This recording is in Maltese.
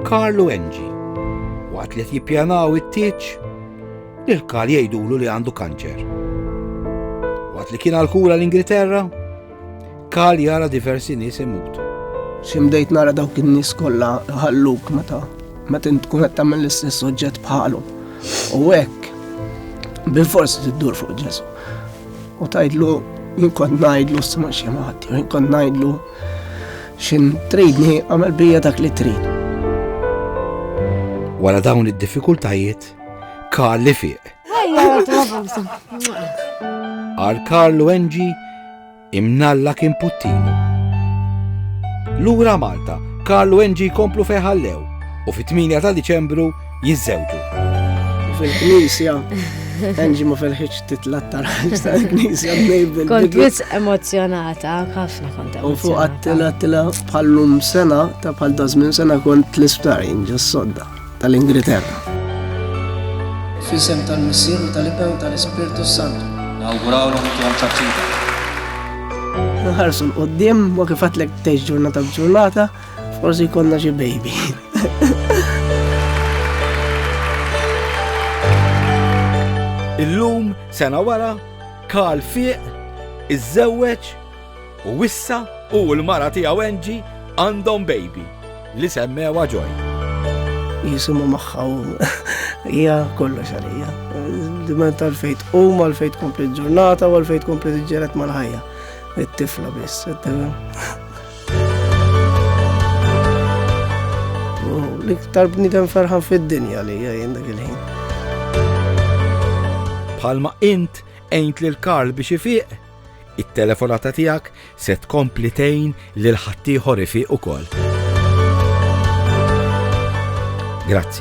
Karl u Angie, waqt li qed jippjanaw it-tieġ, lil Karl jgħidulu li għandu kanċer. Waqt li kien għal-kura l-Ingilterra, Karl jara diversi nies imutu. Ximdejt nara dawk in-nies kollha ħalluk meta meta tkun qed tagħmel l-istess oġġett bħalhom. U hekk bil-fors tiddur fuq Ġesu. U tajdlu jien kont ngħidlu s-sema xi ħadd, jien kont ngħidlu Xin tridni għamel bija dak li trid. Wara dawn id-diffikultajiet, Karl li fiq. Għal Karlu Enġi imnalla kien puttinu. Lura Malta, Karlu Enġi komplu feħallew u fit-8 ta' Diċembru jiżżewġu. Fil-knisja, Angie ma felħiċ titlat tal-ħalġ tal-knisja bnejbil. Kont wis emozjonata, ħafna kont emozjonata. U fuq għattila tila bħallum sena, ta' bħal dazmin sena kont l-isptar jinġas sodda tal-Ingilterra. Fisem tal-Missir u tal-Iben tal-Ispirtu Santu. Nawguraw l-għom ċaċċita. Nħarsu l-qoddim, ma kifatlek teġ ġurnata b'ġurnata, Forsi konna xi baby. Illum sena wara Karl fiq iżżewweġ u wissa u l-mara tiegħu Enġi għandhom baby li semmewa ġoj. Jisimu maħħa u hija kollox għalija. Diment tal-fejt u mal-fejt kompli ġurnata u għal-fejt kompli ġġeret mal-ħajja. It-tifla biss, it-tifla. L-iktar bnidem ferħan fid-dinja li jgħin dak il-ħin. Palma int għajnt lil Karl biex ifiq, it-telefonata tiegħek se tkompli tgħin lil ħaddieħor ifiq ukoll. Grazzi.